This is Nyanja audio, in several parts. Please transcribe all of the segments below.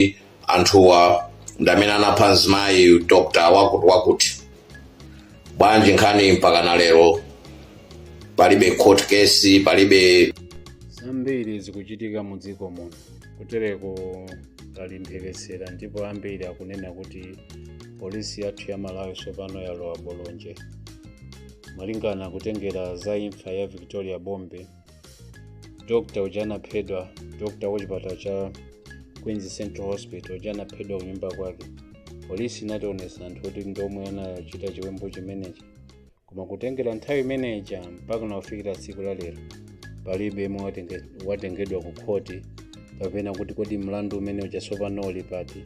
kuti anthuwa ndi amene anapha mzimayi dr wakuti wakuti bwanji nkhani mpaka na lero palibe court case palibe zambiri zikuchitika mu dziko muno kutereko talimphekesera ndipo ambiri akunena kuti polisi yathu ya malawi tsopano yalowa bolonje malingana kutengera za imfa ya victoria bobe dr uja anaphedwa dr wachipatala cha queen's central hospital uja anaphedwa kunyumba kwake polisi inationesa anthu kuti ndomwe anachita chiwembu chimenechi koma kutengera nthawi imeneja mpaka nakufikira tsiku la lero palibe yemwe watenge- watengedwa ku khoti kapena kuti kodi mlandu umene uja tsopano uli pati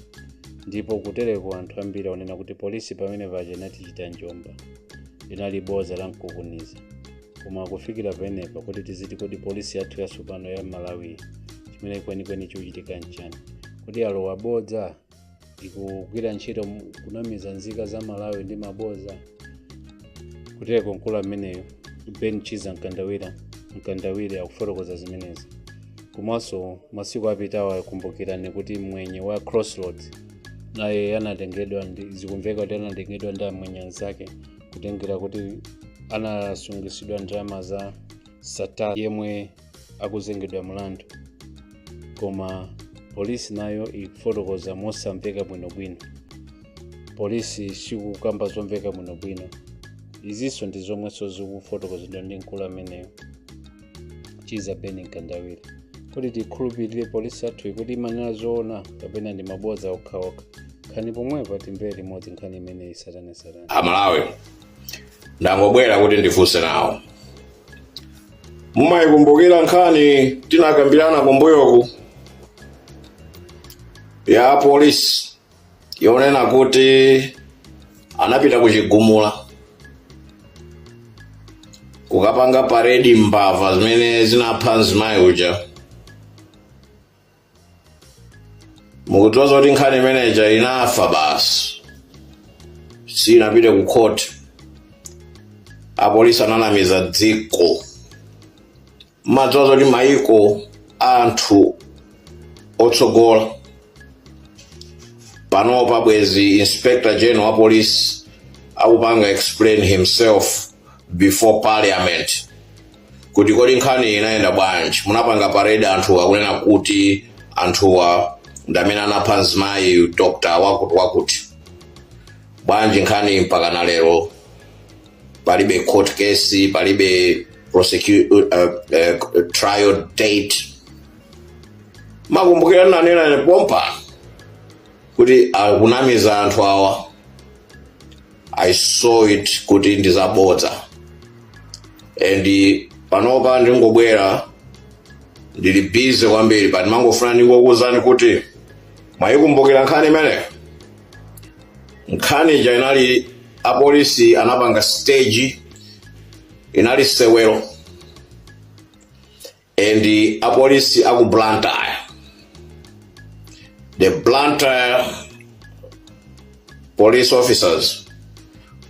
ndipo kutereko anthu ambiri akunena kuti polisi pamene paja inatichita njomba linali boza la mkukuniza koma kufikira penepa kuti tiziti kodi polisi yathu yatsopano ya malawi chimene kwenikweni chikuchitika nchani kuti alowa bodza ikugwira ntchito mu- kunamiza nzika za malawi ndi mabodza kutereko mkulu ameneyo ben chiza mkandawira mkandawire akufotokoza zimenezi komanso masiku apitawa kumbukirani kuti mwenye wa crossroads naye anatengedwa zikumveka kuti anatengedwa ndi amwenye anzake kutengera kuti anasungitsidwa ndalama za sattar yemwe akuzengedwa mlandu koma polisi nayo ikufotokoza mosamveka bwinobwino polisi sikukamba zomveka bwinobwino izinso ndi zomwenso zikufotokozedwa ndi mkulu ameneyo chiza ben mkandawire kodi tikhulupirire polisi yathuyi kuti imanena zoona kapena ndi mabodza okhaokha nkhani pomwepa timvere limodzi nkhani imeneyi satana satana amalawi ndangobwera kuti ndifunse nawo mumayikumbukira nkhani tinakambirana kumbuyoku ya polisi yonena kuti anapita ku chigumula kukapanga paredi mbava zimene zinapha mzimayi uja mukudziwa zoti nkhani imeneja inafa basi sinapite ku khoti apolisi ananamiza dziko mudziwa zoti maiko a anthu otsogola panopa bwezi inspector general wa polisi akupanga explain himself before parliament kuti kodi nkhani inayenda bwanji munapanga parade anthu akunena kuti anthuwa ndi amene anapha mzimayi dr wakuti wakuti bwanji nkhani mpaka na lero palibe court case palibe prosecu- uh, uh, trial date makumbukira nanena pompano kuti akunamiza anthu awa i saw it kuti ndizabodza and panopa ndingobwera ndili busy kwambiri but ndimangofuna ndingokuwuzani kuti mwayikumbukira nkhani imeneyo nkhani ija inali apolisi anapanga stage inali sewero and apolisi aku blantyre the blantyre police officers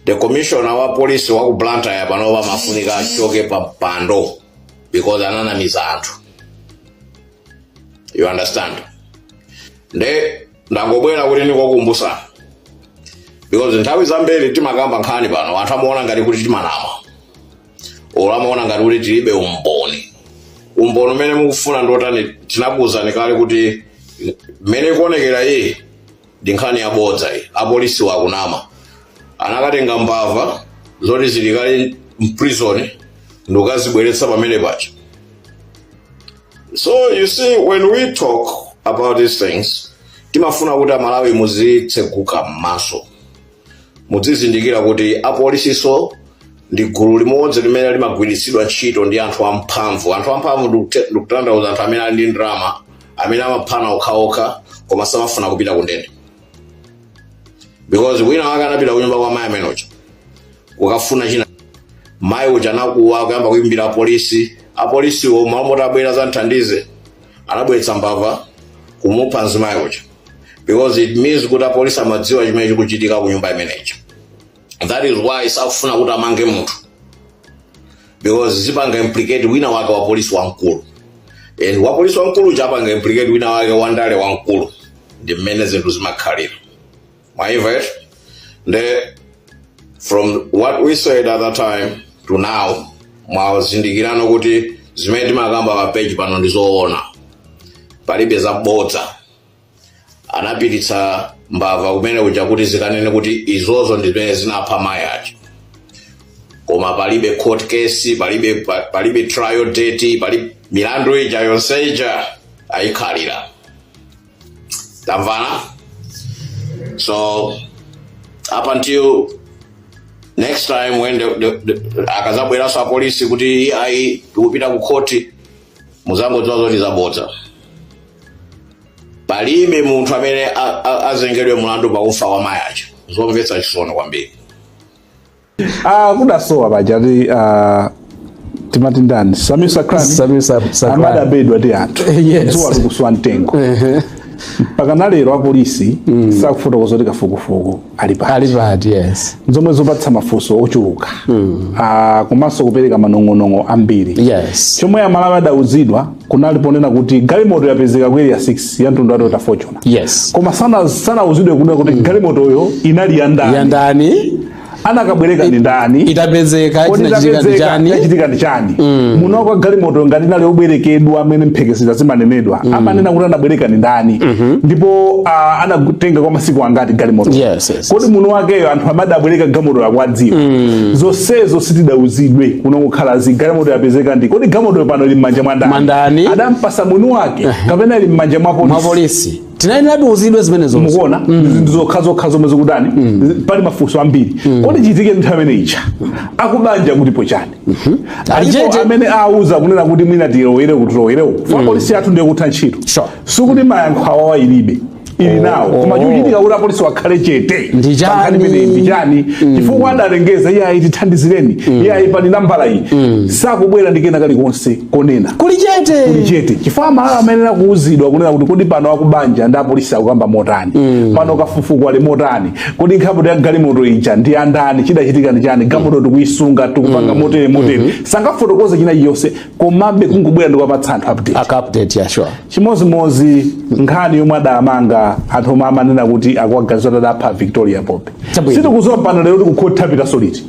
the commissioner wa polisi wa ku blantyre panopa amafunika achoke pa mpando because ananamiza anthu you understand nde ndangobwera kuti ndikukumbutsani because nthawi zambiri timakamba nkhani pano anthu amaona ngati kuti timanama olo amaona ngati kuti tilibe umboni umboni umene mukufuna ndiotani tinakuwuzani kale kuti mmene ikuonekera iyi ndi nkhani yabodza iyi apolisi akunama anakatenga mbava zoti zili kale mprison ndikukazibweretsa pamene paja So you see, when we talk about these things, timafuna kuti amalawi muzitseguka m'maso mudzizindikira kuti apolisiso ndi gulu limodzi limene limagwiritsidwa ntchito ndi anthu amphamvu anthu amphamvu ndikute- ndikutanthauza anthu amene ali ndi ndalama amene amaphana okhaokha koma samafuna kupita kundende because wina wake anapita kunyumba kwa mayi amene uja kukafuna china mayi uja anakuwa nkuyamba kuyimbira apolisi apolisiwo malo moti abwere adzamuthandize anabweretsa mbava kumupha mzimayi uja because it means kuti apolisi amadziwa chimene chikuchitika ku nyumba imeneja that is why sakufuna kuti amange munthu because zipanga implicate wina wake wa polisi wamkulu and wa polisi wamkulu uja apanga implicate wina wake wandale wamkulu ndi mmene zinthu zimakhalira mwaimva eti nde from what we said at that time to now mwazindikirano kuti zimene timakamba pa page pano ndi zoona palibe zabodza anapititsa mbava kumene kuja kuti zikanene kuti izozo ndi zimene zinapha mayi aja koma palibe court case palibe pa- palibe trial date palibe milandu ija yonse ija ayikhalira tamvana so up until next time when the, the, the, akazabweranso apolisi kuti ayi tikupita ku khoti muzangodziwa zoti ndi zabodza palibe munthu amene a- a- azengedwe mulandu pa kufa kwa mayi aja zomvetsa chisoni kwambiri Ah, kudasowa paja ati ah, timati ndani sameer sacranie Sameer Sacranie. amene adabedwa ndi anthu Yes. dzuwa likuswa mtengo Ehe. mpaka nalero apolisi sakufotokoza kuti kafukufuku ali pati ali pati yes zomwe zopatsa mafunso ochuluka Ah, komanso kupereka manong'onong'o ambiri yes chomwe amalawi adauzidwa kunali ponena kuti galimoto yapezeka ku area 6 ya mtundu wa toyota fortuner yes koma sana- sanauzidwe kunena kuti galimotoyo inali ya ndani yandani anakabwereka ndi ndani itapezeka Kodi chinachitika ndi tapezeka, chani chachitika ndi chani mwini wa galimoto ngati inali yobwerekedwa amene mphekesera zimanenedwa amanena kuti anabwereka ndi ndani ndipo ah, anatenga kwa masiku angati galimoto Yes, yes, kodi mwini wakeyo anthu amene adabwereka galimoto akuwadziwa zonsezo sitidauzidwe kungokhala zi galimoto yapezeka ndi kodi galimoto pano ili m'manja mwa Mwa ndani? ndani adampasa mwini wake kapena ili m'manja mwa polisi mwa apolisi tinayenera tiuzidwe zimenezo mukuona zinthu zokha zokha zomwe zikutani pali mafunso ambiri kodi chitike nthawi imene ija akubanja akutipo chani alipo Alichete. amene auza kunena kuti mwina tilowere kutilowerewo fa polisi yathu ndi yakutha ntchito Sure. sikuti mayankho awawa ilibe ili nawo koma chikuchitika kuti apolisiwa akhale chete Ndi chani? Pankhani imeneyi ndi chani chifukwa adalengeza iyayi tithandizireni iyayi pali nambala iyi sakubwera ndi kena kalikonse konena kuli chete kuli chete chifukwa amalawi amayenera kuuzidwa kunena kuti kodi pano akubanja ndi apolisi akukamba motani mm. pano kafukufuku ali motani kodi nkhapoto ya galimoto ija ndi andani chidachitika ndi chani galimoto mm. tikuisunga tikupanga mm. motere motere mm -hmm. sangafotokoze china chilichonse komabe kungobwera ndikuwapatsa anthu update update yeah, sure. chimodzimodzi nkhani yomwe adamanga anthu omwe amanena kuti akuwaganizira kuti adapha victoria bobe sitikudziwa pano lero kuti kukhoti apitanso liti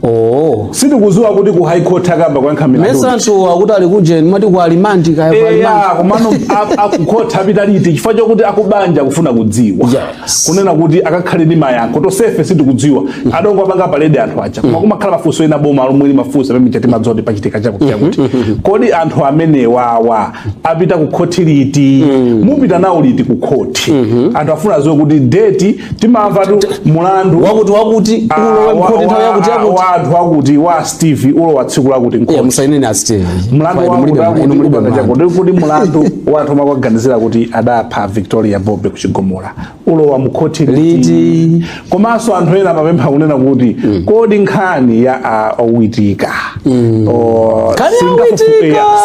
Oh. sindikudziwa kuti ku high court akayamba kuyankha milandu Mesa anthu akuti ali kujeni amati ku alimandi kaya ku alimandi. eya komano a- kukhoti apita liti chifukwa chakuti akubanja akufuna kudziwa Yes. kunena kuti akakhale ndi mayankho tonsefe sitikudziwa adangowapanga paledi anthu aja koma kumakhala mafunso ena boma lomwe limafunsa pamene timadziwa kuti pachitika chakuti chakuti kodi anthu amenewawa apita ku khoti liti mm. mupita nawo liti ku khoti mm -hmm. anthu afuna adziwe kuti deti timamvatu mulandu wakuti wakuti ah, ulowe mkhoti nthawi yakuti yakuti wa anthu akuti wa steve ulowa tsiku lakuti mkhoti yeah, musaineni a steve mulandu wakuti wakuti muli banga chako kuti mulandu wa anthu omwe akuwaganizira kuti adapha victoria bobe ku chigumula ulowa mukhothi liti komanso anthu ena amapempha kunena kuti mm. kodi nkhani ya uh, witika mm. oh,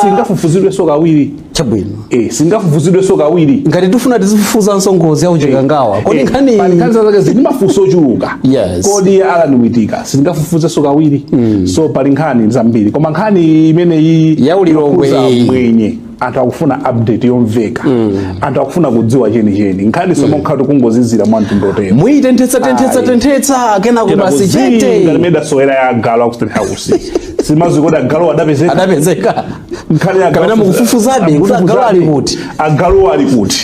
singafufuzidwenso kawiri chabwino eh, singafufuzidwenso kawiri ngati tifuna tizifufuzanso ngozi ya ku chikangawa eh, kodi eh, nkhani eh, nkhani zake zili mafunso ochuluka yes. kodi ya alan witika singafufuzidwenso kawiri mm. so pali nkhani zambiri koma nkhani imeneyi ya ku lilongwe mwenye anthu akufuna update yomveka mm. anthu akufuna kudziwa chenicheni nkhani sono mm. nkhatu kungozizira mwa mtundu wotero muyitenthetsa tenthetsa tenthetsa kenako basi chete ngati mmene idasowera ya galo ku State House sindidziwa kodi galu adapezeka adapezeka nkhani ya galu mukufufuzabe kuti galu ali kuti agaluwo ali kuti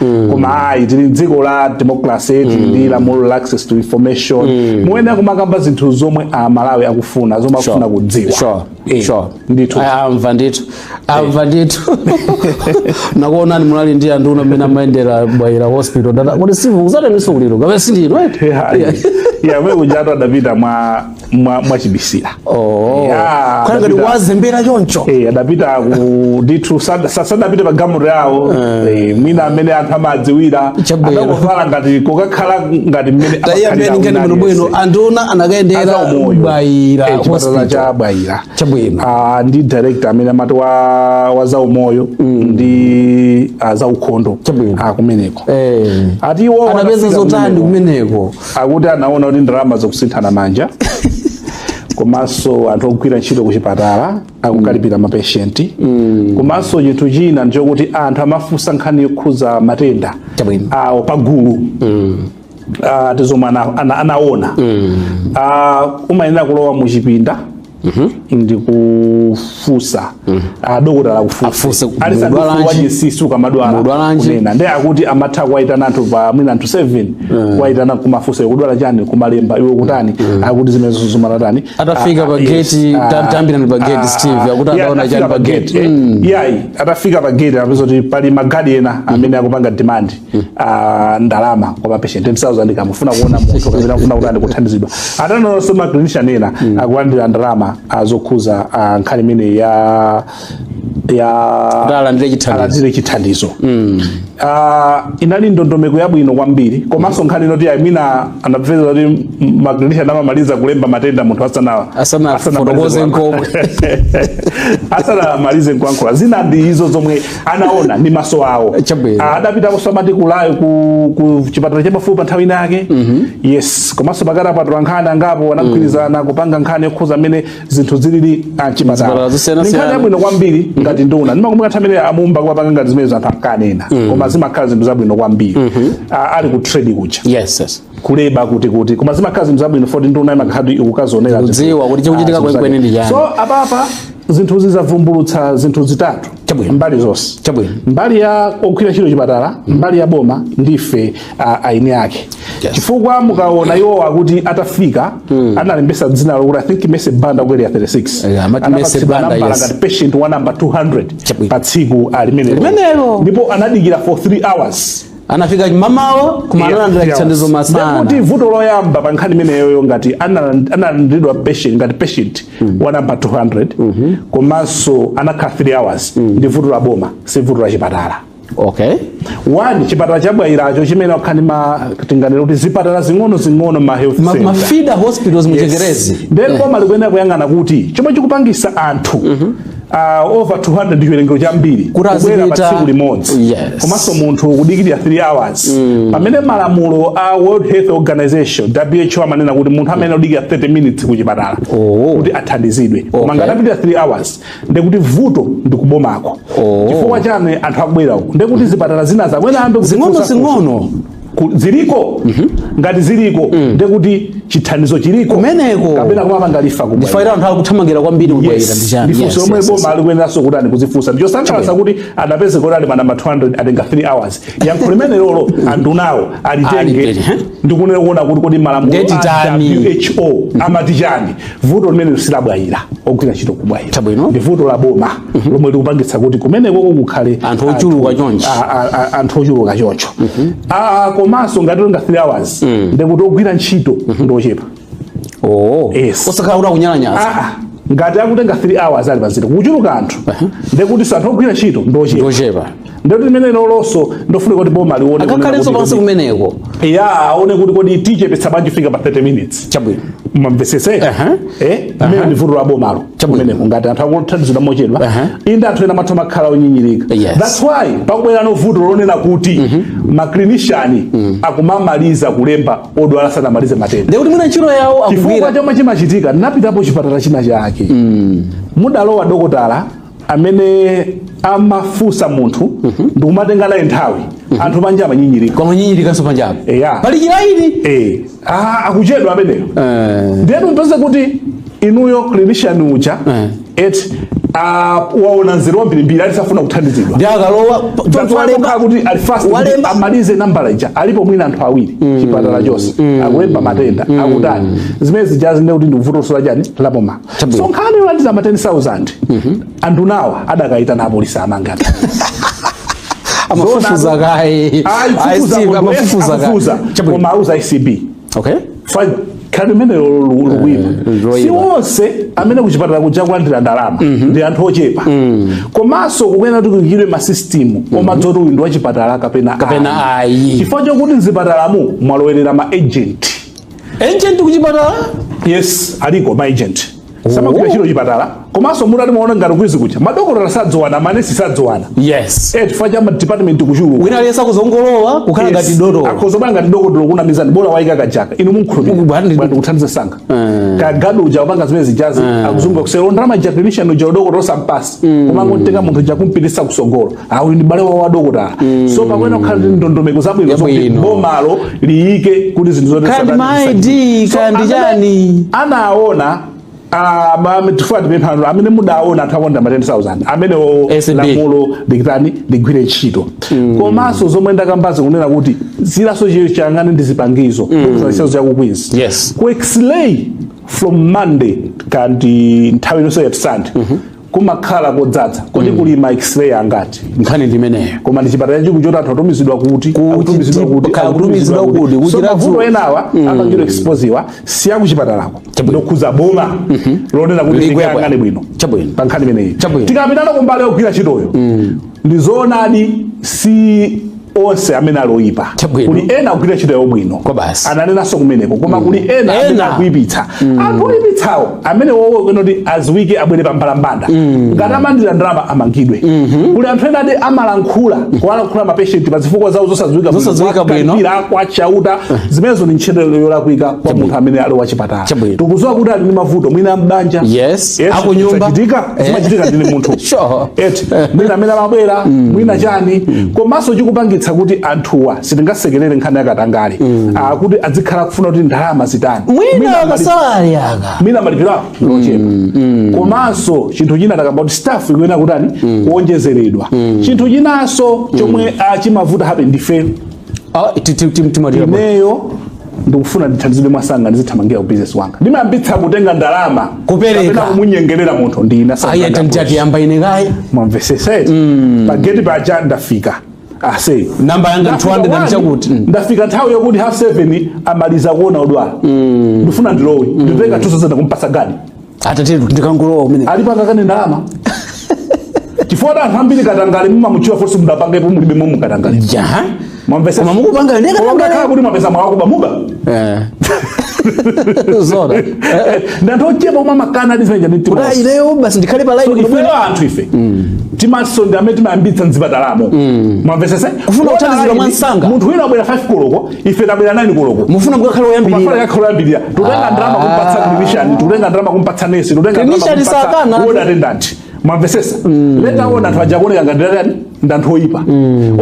Mm. koma ayi tili mdziko la democracy mm. tili ndi lamulo la access to information mm. muyenera kumakamba zinthu zomwe amalawi akufuna zomwe akufuna sure. kudziwa sure. Eh, sure. ndithu amva ndithu amva ndithu nakuonani munali ndi anduna mmene amayendera Bwaila hospital dada kuti sivu kuzataniso kuliro kapena sindino eti yeah, yeah. yeah, we kujatu adapita mwa mwa- mwachibisila Oh. Yeah, Kukhala ngati Davida- wazembera choncho Eh, adapita ku ndithu sad- sa- sadapite pa galimoto yawo Eh, mwina mmene anthu amadziwira Chabwino. adakovala ngati kokakhala ngati mmene taiya amakhalira peni ngati wina muno bwino aliyense. anduna anakayendera Azaumoyo. Bwaila Eh, chipatala hospital. cha Bwaila Chabwino. Ah, ndi director amene amati wa, wa zaumoyo ndi ah, zaukhondo Chabwino. Ah, kumeneko Eh. ati iwo anapeza anapeza zotani kumeneko. kumeneko akuti anaona kuti ndalama zikusinthana manja komanso anthu ogwira ntchito ku chipatala akukalipira mapeshenti komanso chinthu china ndichokuti anthu amafunsidwa nkhani yokhudza matenda Chabwino. awo pagulu Ah, ndi zomwe ana- ana- anaona Ah, umayenera kulowa mu chipinda ndikufunsa adokotala Afunse akufunsa kuti ali mudwala sandufu nji? wajesisu kamadwala Mudwala nji? ena nde akuti amatha kuwayitana anthu pa mwina anthu 7 kuwayitana kumafunsa ukudwala chani kumalemba iwe kutani akuti zimenezo zumatani Atafika pa gate, ta- tambirani pa gate, Steve, akuti adaona chani pa gate. yayi atafika pa gate anapeza kuti pali magadi ena amene akupanga demand ah, ndalama kwa mapeshenti 10000 kamufuna kuona munthu kapena kufuna kutani kuthandizidwa atanonso maclinician ena akulandira ndalama ah, zokhudza ah, nkhani imene ya ya Kuti alandire chithandizo. alandire chithandizo Ah, inali ndondomeko yabwino kwambiri komanso nkhani ina yoti mwina anapeza kuti maclinician amamaliza kulemba matenda munthu asana Asanafotokoze nkomwe. asanamalize kuyankhula zina ndi izo zomwe anaona ndi maso awo adapita kwinanso amati ku Area ku, ku chipatala chapafupi nthawi ina yake mm -hmm. yes komanso pakatipa atola nkhani angapo anagwirizana mm -hmm. kupanga nkhani yokhudza mmene zinthu zilili mchipatala ndi nkhani yabwino kwambiri mm -hmm. ngati nduna ndimakumbuka nthawi imene a Mumba ankapanga ngati zimene anthu ankanena mm -hmm. koma zimakhala zinthu zabwino kwambiri mm -hmm. ali ku trade kuja yes, yes. kuleba kuti kuti koma zimakhala zinthu zabwino poti nduna imakhala ikukadzionera Kudziwa kuti chikuchitika kwenikweni ndi chani. so apapa zinthu zidzavumbulutsa zinthu zitatu Chabwino. mbali zonse Chabwino. mbali ya ogwira ntchito chipatala mbali ya boma ndi ife uh, eni ake Yes. chifukwa mukaona iwo akuti atafika analembetsa dzina lokuti i think Mercy Banda wa zaka 36 Yeah, amati Mercy Anapatsidwa Banda, nambala yes. ngati patient wa nambala 200 Chabwino. pa tsiku alimene Limenelo. ndipo anadikira for 3 hours anafika m'mawa koma Yeah, analandira yeah. chithandizo Ndiye kuti masana vuto loyamba pa nkhani imeneyoyo ngati analand- analandiridwa patient ngati patient wa nambala 200 komanso anakhala 3 hours ndi vuto la boma si vuto la chipatala okay one chipatala cha Bwailacho chimene mwakhala mu tinganena kuti zipatala zing'ono zing'ono ma health Ma- center. ma feeder hospitals mu Yes. chingerezi Then boma likuyenera kuyang'ana kuti chomwe chikupangisa anthu uh, over 200 ndi chiwerengero chambiri Kuti azipita- kubwera pa tsiku limodzi Yes. komanso munthu kudikirira 3 hours pamene malamulo a world health organization who amanena kuti munthu ayenera kudikira 30 minutes ku chipatala Oh. kuti athandizidwe koma Okay. ngati apitirira 3 hours ndekuti vuto ndi kubomako Oh. chifukwa chani anthu akubwera uku ndekuti zipatala zina zamwene ambe zing'ono zing'ono ziliko mm -hmm. ngati ziliko mm. ndekuti chithandizo chiliko kumeneko kapena kumapanga refer komwe ndi why anthu akuthamangira kwambiri ku Bwaila yes. ndi chani ndi funso yes, lomwe yes, boma likuyeneranso kutani kudzifunsa n'chosangalatsa kuti adapezeka kuti ali pa nambala 200 atenga 3 hours yankho limenelolo andunawo alitenge ndikunena kuona kuti kodi malamulo a WHO amati chani vuto limeneli si la Bwaila ogwira ntchito ku Bwaila ndi vuto la boma mhm. lomwe likupangitsa kuti kumenekoko kukhale anthu ochuluka choncho anthu ochuluka choncho mhm. ah, komanso ngati akutenga 3 hours mm. ndekuti ogwira ntchito mhm. ndi ochepa oh. osakhala kuti akunyalanyaza ah, ah. ngati akutenga 3 hours ali pamzere kuchuluka anthu ndekutinso anthu ogwira ntchito ndi ochepa ndekuti limenelolonso ndofuna kuti boma lione akakhalenso pansi kumeneko ya aone kuti kodi tichepetsa bwanji kufika pa 30 minutes chabwino mumvetsetse eh mmene ndi vuto la bomalo kumeneko ngati anthu akuthandizidwa mochedwa inde anthu ena amatha kumakhala onyinyirika that's why pakubwerano vuto lonena kuti mhm. ma clinician mm. akumamaliza kulemba odwala sanamalize matenda ndikuti mwina ntchito yawo akugwira chifukwa chomwe chimachitika ndinapitapo chipatala china chake mm. mudalowa dokotala amene amafunsa munthu ndikumatenga naye nthawi anthu panja amanyinyirika kumanyinyirikanso panjapa Eya. pali chilaini Eh, ah, akuchedwa ameneyo Eh. ndiye mupeze kuti inuyo clinician uja Eh. et ah, waona mzere wambirimbiri aliyense afuna kuthandizidwa ndi akalowa That's why kukhala kuti ali fast kuti walemba amalize nambala ija alipo mwina anthu awiri chipatala chonse akulemba matenda akutani zimene zijazi ndekuti ndi vutonso la chani la boma so nkhani yolandiza ma 10000 mhm. anthu nawo adakayitana apolisi amangati amafufuza kaye amafufuza kaye koma auza acb okay fine kandi limenelo likuyima eh, si onse amene kuchipatala kuja kulandira ndalama mhm. ndi anthu ochepa mm. komanso kukuyenera kuti kuyikidwe masistimu mhm. omadziwa kuti uyu ndi wachipatala kapena ayi chifukwa chokuti mzipatalamu mwalowerera ma agent agent kuchipatala yes aliko ma agent samagwira ntchito kuchipatala komanso mutati muona ngati Queens kuja madokotala sadziwana manesi sadziwana yes eh chifukwa cha department kuchuluka wina aliyense akudzangolowa kukhala ngati dotolo akudzovala ngati dokotala kunamizani bola waika kajaka inu mumkhulupirira Bwana ndi- bwana ndikuthandizani msanga kagadi uja wapanga zimene zijazi akusunga kuseri ndalama ja clinician uja dokotala sampatsi koma angotenga munthu uja kumpititsa kutsogolo Ah, uyu ndi m'bale wa adokotala so pakuyenera kukhala ndi ndondomeko zabwino zoti Yabwino. bomalo liyike kuti zinthu zotere Kandi satani ma ID, zisachitike. So, kandi amene chani? anaona ah, ma- chifukwa tipemphano amene mudaona anthu akonda ma 10000 amene ACB. lamulo likitani ligwire ntchito komanso zomwe ndakambazi kunena kuti zilaso chiyo chiyang'ane ndi zipangizo chitsanzo chaku Queens Yes. ku x-ray from monday kandi nthawi yonse ya sunday kumakhala kodzadza kodi mm. kuli ma x-ray angati nkhani ndi imeneyo koma ndi chipatala chikulu choti anthu amatumizidwa kuti akutumizidwa kuti akutumizidwa kuti so mavuto enawa mm. akamachita expose-iwa si aku chipatalako ndokhuza boma mm -hmm. lonena kuti likayang'ane bwino chabwino pa nkhani imeneyi tikapitano kumbali yogwira ntchitoyo mm. ndi zoonadi si onse amene ali oyipa Chabwino. kuli ena akugwira ntchito yawo bwino Kwa basi. ananenanso kumeneko koma kuli ena amene Ena. akuipitsa anthu oipitsawo amenewowo akuyenera kuti adziwike abwere pa mbalambanda ngati amalandira ndalama amangidwe kuli anthu ena ati amalankhula kuwalankhula mapeshenti pa zifukwa zawo zosadziwika bwino, Zosadziwika bwino. kuwakalipira, kwa chauta zimenezo ndi ntchito yolakwika kwa munthu amene ali wachipatala Chabwino. tikudziwa kuti ali ndi mavuto mwina mbanja Yes. Yes, Akunyumba. zachitika Eh. zimachitika ndine munthu Sure. Eti. mwina amene amabwera mwina chani komanso chikupangitsa kuti anthuwa sitingasekerere nkhani yakatangale Ah, kuti adzikhala kufuna kuti ndalama zitani mwina mali- kasalale kake mwina malipiro awo ngochepa komanso chinthu china takamba kuti staff ikuyenera kutani kuonjezeredwa chinthu chinanso chomwe ah, chimavuta abale ndife Ah, ti- ti- ti- timalira bwa. ineyo ndikufuna ndithandizidwe mwasanga ndizithamangira ku business yanga ndimayambitsa kutenga ndalama Kupereka. kapena kumunyengerera munthu ndikuti ayi tayambani ine kaye mwamvetsetsa pageti paja ndafika ase Namba yanga Ndafika 200 one, ndichakuti. Mm. ndafika nthawi yakuti half seven amaliza kuona odwala ndifuna ndilowe nditenga 2000 kumpatsa gadi atate ndikangolowa kumene alipanga kaye ndalama chifukwa anthu ambiri katangale mumamuchiwa fonse mudapangepo mulibe momu katangale jaha mwamvesa koma mukupanga ndi Koma mukakhala katangale kuti mwapeza mwakuba muba Eh. zona ndi anthu ochepa omwe amakana ndi zimene zija ndi mtima kuti wonse. ineyo basi ndikhale pa So line ifeyo anthu ife timanso ndi amene timayambitsa mzipatalamo mwamvesese Kufuna kuthandizidwa mwa msanga. munthu wina wabwera 5 koloko ife tabwera 9 koloko mufuna mukakhale oyambirira mufuna akhale oyambirira tutenga ndalama kumpatsa clinician tutenga ndalama kumpatsa nesi tutenga Clinician sakana. ward attendant mwamvesesa later on anthu aja kuoneka ngati ndi anthu oyipa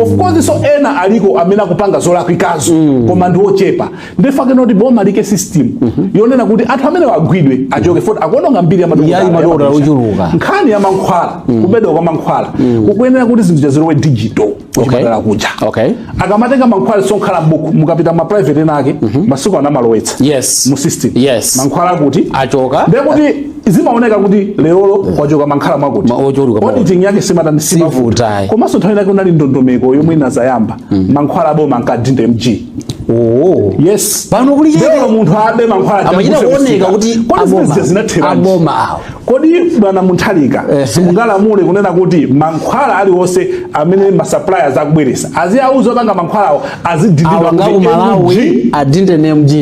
of course ena aliko amene akupanga zolakwikazo koma ndi ochepa nde nkufunika kuti boma liike system yonena kuti anthu amene agwidwe achoke poti akuononga mbiri ya madokotala Yayi madokotala yamakulisha. ochuluka. nkhani ya mankhwala kubedwa kwa mankhwala kukuyenera kuti zinthu zizilowe digital kuchipatala okay. kuja okay. akamatenga mankhwala samakhala mbuku mukapita ma private ena ake mm -hmm. masiku ano amalowetsa yes. mu system yes. mankhwala kuti achoka ndekuti zimaoneka kuti lerolo kwachoka mankhwala mwakuti auditing yake simatani simavuta komanso nthawi inake kunali ndondomeko yomwe inazayamba mm. mankhwala aboma ankadinda MG Oh. Yes. Pano kuli yeye. Ndipo munthu abe mankhwala. Amachita kuoneka kuti aboma. Aboma. Kodi bwana Mutharika eh. simungalamule kunena kuti mankhwala aliwonse amene ma suppliers akubweresa aziwauza opanga mankhwalawo azidindidwa ku Malawi adinde ndi MG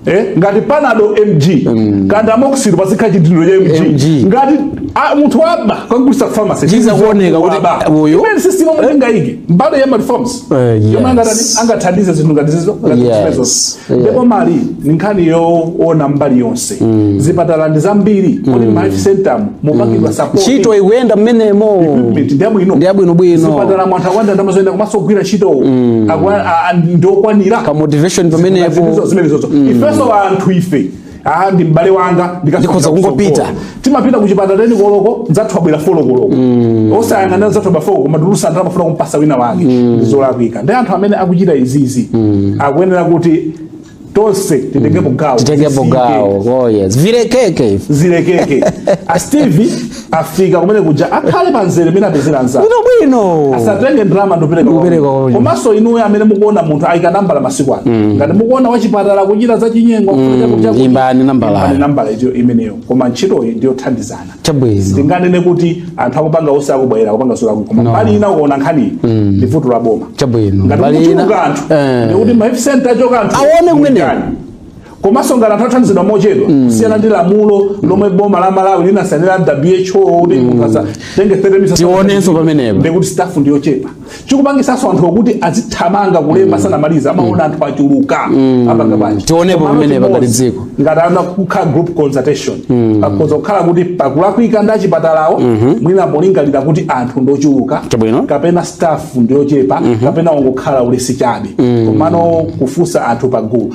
eh ngati panado MG mm. kaya ndi amoxil pazikhala chidindo cha MG, MG. ngati a, munthu waba kagulisa pharmacy ichita kuoneka kuti uyu imene system mwenga eh. iyi mbali ya reforms Eh, chomwe yes. angatani- angathandize zinthu ngati izizo ngati Yes, zimenezo. yes. ndipo mbali ina nkhani yoona mbali yonse zipatala ndi zambiri kodi ma health center mupangidwa support ntchito ikuyenda mmenemo equipment ndi yabwino Ndi abwinobwino. zipatala mwanthu akwanda ndamazoyenda komanso kugwira ntchito Akwa- a- a- ndi okwanira pa motivation pamenepo zimenezozo ifenso anthu ife Ah, ndi m'bale wanga Ndikhoza kungopita. timapita ku chipatala teni koloko anzathu abwera folo koloko osayang'anira anzathu abwera folo koma tulusa ndalama kufuna kumpasa wina wake ndi zolakwika ndi anthu amene akuchita izizi akuyenera kuti tonse titengepo gawo titengepo gawo oh yes zilekeke zilekeke a Steve afika kumene kuja akhale pa nzere mmene apezera anzake bwino bwino asatenge ndalama Ndikupereka ndikupereka kwa munthu. komanso inuyo amene mukuona anthu ayika nambala masiku ano ngati mukuona wachipatala kuchita za chinyengo kuchita kuchita- imbani nambala. imbani nambala itiyo imeneyo koma ntchitoyi ndiyothandizana chabwino tinganene kuti anthu akupanga onse akubwera akupanga sura koma No. mbali ina ukaona nkhaniyi ndi vuto la boma chabwino ngati Mbali ina- kuchuluka anthu Eh. ndikuti ma health center achuluka anthu Aone kumeneko. Mtani. komanso ngati anthu athandizidwa mochedwa mm. kusiyana ndi lamulo lomwe boma la malawi linasainira who kuti mm. munthu atenge 30 minutes tionenso pamenepo ndikuti staff ndi yochepa chikupangisanso anthu okuti azithamanga kulemba mm. sanamaliza amaona anthu achuluka apanga bwanji tionepo pamenepo ngati dziko ngati anthu kukhala group consultation akhoza kukhala kuti pakulakwika ndi achipatalawo mm-hmm. mwina polingalira kuti anthu ndochuluka kapena staff ndi yochepa mm-hmm. kapena wangokhala ulesi chabe komano kufunsa anthu pagulu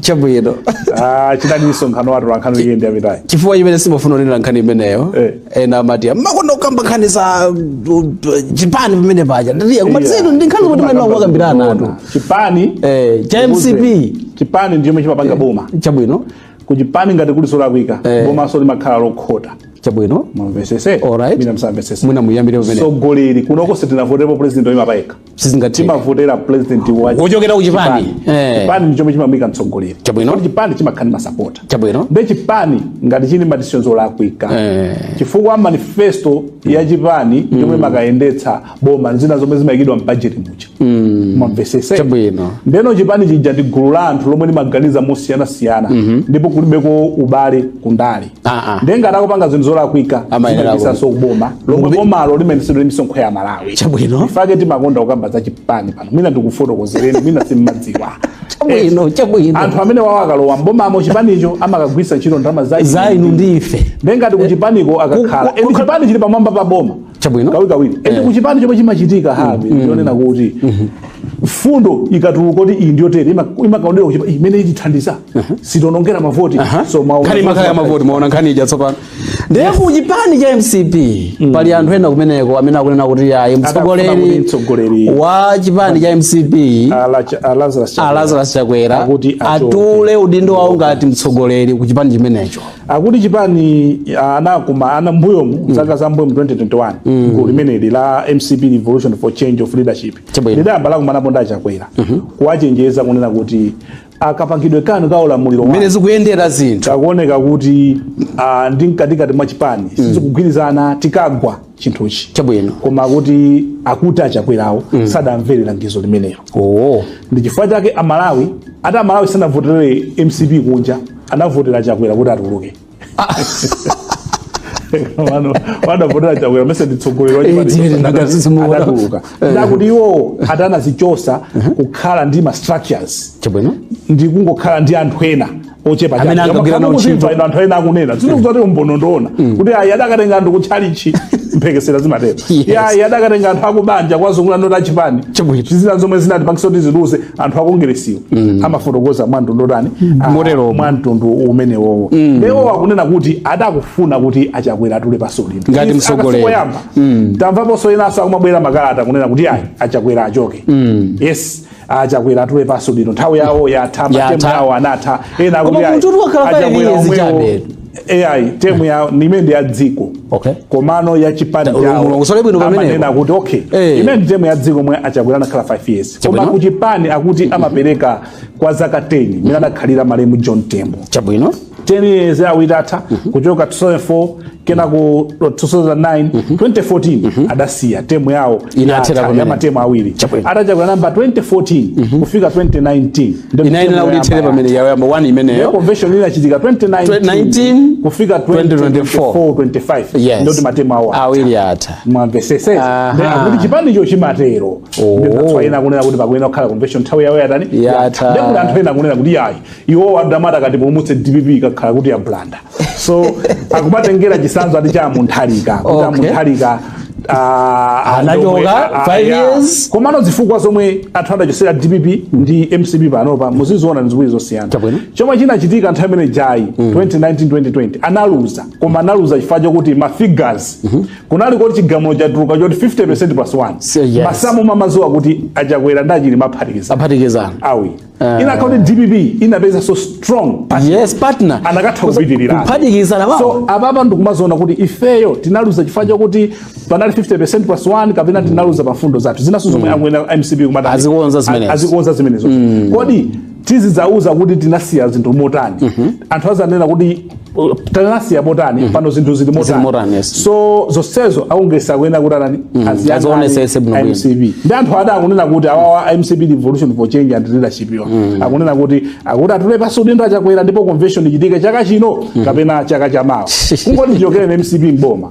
chabwino ah, udali msonkhano wa atolankhani wikendi yapitayi chifukwa chimene sindimafuna kunena nkhani imeneyo eh. ena amati mmakonda kukamba nkhani za uh, uh, chipani pamene paja ndatiya koma tsono ndi nkhani zimene akambirana anthu chipani eh, cha mcp chipani ndi chomwe chimapanga eh, boma chabwino kuchipani ngati kuli solakwika eh. bomanso limakhala lokhota chabwino mwamvesese mwina msamvesese mwina muyambire pamene mtsogoleri kunoko sitinavotepo president oyima payekha sizingatheka timavotera president wa Wochokera ku chipani. Eh. chipani ndi chomwe chimamuyika mtsogoleri Chabwino. Kodi chipani chimakhala ndi masapota Chabwino. nde chipani ngati chili ndi ma decisions olakwika Eh. chifukwa manifesto ya chipani ndi yomwe imakayendetsa boma ndi zina zomwe zimayikidwa m'bajeti muja mwamvesese Chabwino. ndeno chipani chija ndi gulu la anthu lomwe limaganiza mosiyanasiyana ndipo kulibeko ubale kundale Ah, ah. nde ngati akupanga zinthu zolakwika Amayenera zimafikanso kuboma lomwe Kumbi- bomalo limayendetsedwa ndi misonkho ya malawi Chabwino. nchifake timakonda kukamba za chipani pano mwina ndikufotokozereni mwina simmadziwa Chabwino, chabwino. anthu amenewawo akalowa mbomamo chipanicho amakagwisa ntchito ndalama za za inu ndi ife nde ngati kuchipaniko akakhala Ku- ku- eni chipani chili pamwamba pa boma chabwino kawirikawiri ende Eh. kuchipani chomwe chimachitika habi ndionena kuti fundo ikatuluka kuti iyi ndiyotere ima- imakawonedwa kuchipani imeneyi itithandiza sitionongera mavoti Aha. so maona- nkhani imakhala ya mavoti maona nkhani ija tsopano ndiye ku chipani cha mcp pali anthu ena kumeneko amene akunena kuti ya Akafuna kuti mtsogoleri mtsogoleri. wa chipani cha mcp Ala cha- a Lazarus Chakwera. a lazarus chakwera Akuti achoke. atule udindo wawo ngati mtsogoleri ku chipani chimenecho akuti chipani ah, anakuma ana mbuyomu zaka za mbuyomu 2021 gulu limeneli la mcp revolution for change of leadership Chabwino. lidayamba lakumanapo ndi achakwera kuwachenjeza kunena kuti a kapangidwe kanu ka ulamuliro wanu mmene zikuyendera zinthu kukuoneka kuti ah, ndi mkatikati mwa chipani sizikugwirizana tikagwa chinthuchi Chabwino. koma akuti akuti achakwerawo sadamvere langizo limenelo oo ndi chifukwa chake amalawi ati amalawi sanavotere mcp kunja anavotera chakwera kuti atuluke Wano- anavotera chakwera mese ndi mtsogoleri wa chipani Eh, chonse, ndaka- anatuluka. zimuona. Anatuluka. ndakuti iwo ati anazichotsa kukhala ndi ma structures chabwino ndi kungokhala ndi anthu ena ochepa amene angagwire nawo ntchito ino anthu ena akunena zinthu mm. zoti umboni ndoona mm. kuti ayi adakatenga anthu kutchalichi mphekesera zimatero ayi adakatenga anthu akubanja kwazungulira ndiye kuti chipani zina zomwe zinachipangitsa kuti chiluze anthu akongeresiwo mm. amafotokoza mwamtundu otani ah, motero mwamtundu umenewowo ewo akunena kuti akufuna kuti a Chakwera atule pansi udindo ngati mtsogoleri tamvaponso ena nawonso akumabwera makalata kunena kuti ayi a Chakwera achoke yes a Chakwera atule pansi udindo nthawi yawo yatha matemu yawo anatha ena akuti a Chakwera omwewo ayi temu yayo imene ndi ya dziko okay. komano ya chipani chawo amanena kuti okay hey. Eh. imene ndi temu ya dziko yomwe a Chakwera anakhala 5 years koma kuchipani akuti amapereka kwa zaka 10 mene anakhalira malemu John Tembo chabwino 10 years yawo itatha kuchoka 2004 kenako 2009 2014 adasiya temu yawo Inathera yatha, pamene. ya matemu awiri Chabwino. ati a Chakwera anayamba 2014 kufika 2019 Ndiyo inayenera temu kuti yoyamba ithere yatha. pamene yawo yoyamba 1 Iyo imeneyo convention inachitika 2019 2019, kufika 2024 25 Yes. ndiye matemu awo awiri atha mwamvetsetsa Aha. Then akuti chipanicho chimatero Oh. ndiye anthu ena akunena kuti pakuyenera kukhala convention nthawi yawo yatani Yatha. ndiye kuti anthu ena akunena kuti yayi iwowa ndi amene adzatipulumutse DPP ikakhala kuti yabulanda so akumatengera chisanzo ati cha Mutharika kuti Okay. a Mutharika Anachoka, five years. komano zifukwa zomwe anthu adachotsera DPP ndi MCP panopa muziziona ndi ziwiri zosiyana Chabwino. chomwe chinachitika nthawi imene ija ya 2019-2020 analuza koma analuza chifukwa chokuti ma figures kunali kuti chigamulo chatuluka choti 50 plus 1 So, yes. masamu mumadziwa kuti a Chakwera ndi a Chilima aphatikizana aphatikizana awiri Eh. inakakhala kuti DPP inapeza so strong partner. yes partner anakatha kupitirira kuphatikizana wawo so apapa ndikumaziona kuti ifeyo tinaluza chifukwa chakuti panali 50% plus 1 kapena tinaluza pa mfundo zathu zinanso zomwe akuyenera MCP kumati Azikonza zimenezo. azikonza zimenezo kodi tizidzauza kuti tinasiya zinthu motani anthu adzanena kuti tinasiya motani mm. pano zinthu zili motani yes. so zonsezo akongeresi akuyenera kuti atani mm. azionetsese bwino MCP ndi anthu ake akunena kuti awawa MCP revolution for change and leadership yo mm. akunena kuti akuti atule pansi udindo a Chakwera ndipo convention ichitike chaka chino mm. kapena chaka chamawa kungoti chichokereni MCP m'boma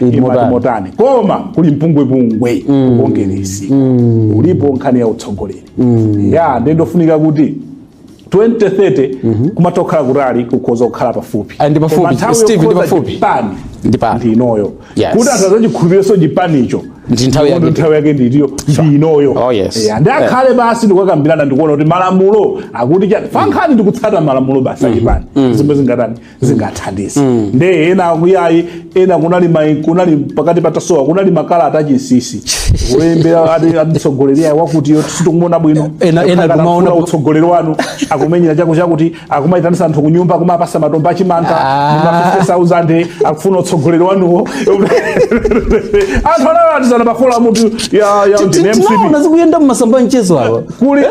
Imati Imotani. motani koma kuli mpungwepungwe kukongeresi ulipo nkhani ya utsogoleri ya ndiye ndofunika kuti 2030 kumatha kukhala kutali kukhoza kukhala pafupi Ah, ndi pafupi. Koma nthawi Steve, ndi yokhoza pafupi. chipani Ndi pano. ndi inoyo Yes. kuti anthu adzachikhulupirirenso chipanicho Ndi nthawi yake. Ndipo nthawi yake ndiyo ndi inoyo Oh, yes. Ya, ndi Yeah. akhale basi ndikukambirana ndikuona kuti malamulo akuti chani pankhani ndikutsata malamulo basi achipani zomwe zingatani zingathandize nde ena akuti ayi ena kunali mai kunali pakati patasowa kunali makalata achinsinsi olembera ati atitsogoleri ayi wakuti yo sitikumuona bwino Ena- ena Akakhala kumaona akufuna ku- utsogoleri wanu akumenyera chako chakuti akumayitanisa anthu kunyumba kumapasa matumba achimanga Ah. ndi ma 50000 akufuna utsogoleri wanuwo anthu analatisana pakhola mutu ya ya ndine mcp tinaona zikuyenda mmasamba mchezo awa kuli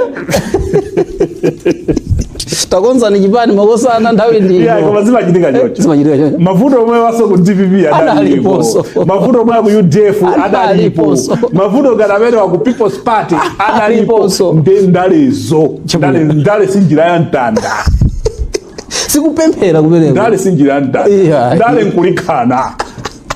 takonzani chipani makosana nthawi ndi yeah, koma zimachitika chocho zimachitika chocho mavuto omwewanso ku dpp adalipo mavuto omwe wa ku udf adalipo mavuto ngati amene wa ku people's party adalipo nde ndalezo ndale ndale si njira ya mtanda sikupemphera kumeneko ndale si njira ya mtanda ndale nkulikhana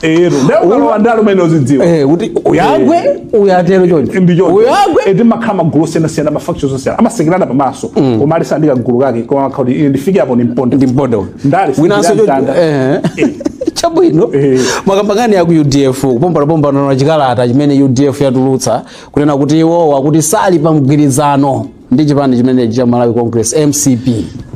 ero ukalowa ndale umene uzidziwa eh kuti uyagwe eh. uyatero choncho ndicho uyagwe eti eh, mumakhala magulu osiyana siyana ma factions osiyana amasekerana pamaso mm. koma aliyense ali ndi ka gulu kake koma amakhala kuti ndifike apo ndimponda ndimponda ndale winanso choncho eh, eh. chabwino eh. mwakamba nkhani ya ku udf kupombanapombana na chikalata chimene udf yatulutsa kunena kuti iwowa kuti sali pa mgwirizano ndi chipani chimenechi cha malawi congress mcp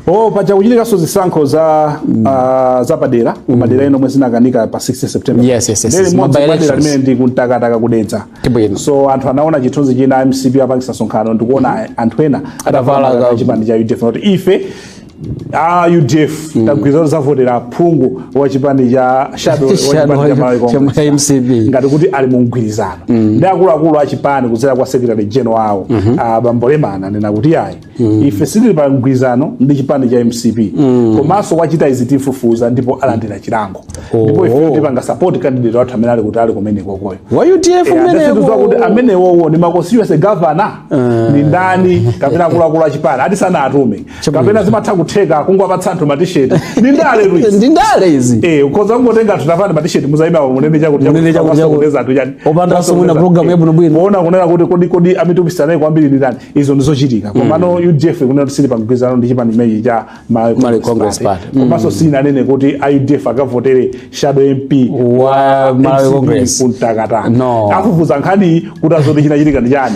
oh paja kuchitikanso zisankho za ah, zapadera kumadera ena omwe zinakanika pa 16 september Yes, yes, yes, Ndi yes. limodzi Mobile madera elections. limeneli ndi ku mtakataka ku dedza Tibwino. so anthu anaona chithunzi china mcp akupangitsa msonkhano ndikuona anthu ena Atavala ka- chipani cha udf kuti ife a udf tagwirizana zovotera phungu wa chipani cha shadow wa Shadow chipani cha Malawi cha Congress MCP. ngati kuti ali mu mgwirizano nde akuluakulu a chipani kudzera kwa secretary general awo a bambo lemana anena kuti ayi ife sitili pa mgwirizano ndi chipani cha mcp komanso wachita izi tifufuza ndipo alandira chilango ndipo ife Oh. tipanga support candidate wathu amene ali kuti ali kumenekoko uyo wa udf ndasituza kuti umeneko amenewowo ndi ma constituency governor ndi ndani kapena akuluakulu achipani ati sanawatume kapena zimatha kutheka kungowapatsa anthu matisheti ndi ndale Luis ndi ndale izi eh ukhoza kungotenga anthu tavalani matisheti muzaima pamenepo chakuti Munene chakuti chakuti. kupeza anthu chani Opanda so mwina program ya bwino bwino. ona kunena kuti kodi kodi amene atumiza naye kwambiri ndi ndani izo ndi zochitika komano UDF kunena kuti sili pamgwirizano ndi chipani chimenechi cha Malawi Malawi Congress Party. komanso sinanene kuti a UDF akavotere shadow MP wa Malawi MCP Congress ku ntakataka No. afufuza nkhani kuti adziwe zoti chinachitika ndi chani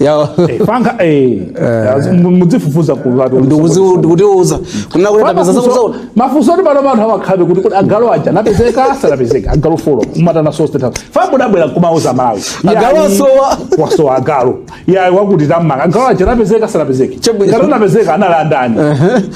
Yawo. Eh, panga eh, mu- mudzifufuza ku vatu Ndikuzi- nkutiuza kunena kuti tapeza zakuzaula mafunso oti pano anthu amakambabe kuti kuti agalu aja anapezeka sanapezeka agalu folo mutawauzanso a state house poti mudabwera kumauza amalawi Agalu Yayi, asowa. asowa agalu yayi wakuti tammanga agalu aja anapezeka sanapezeka Chabwino. ngati anapezeka anali ndi ndani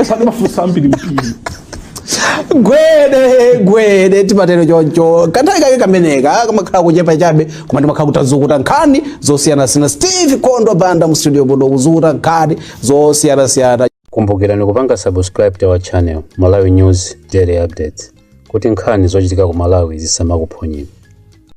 esa ndi mafunso ambiri mpiri gwede gwede timatero choncho kanthawi kake kameneka kamakhala kochepa chabe koma timakhala titazukuta nkhani zosiyanasiyana steve kondo banda mu studio muno kuzukuta nkhani zosiyanasiyana kumbukirani kupanga subscribe to our channel malawi news daily updates kuti nkhani zochitika ku malawi zisamakuphonyeni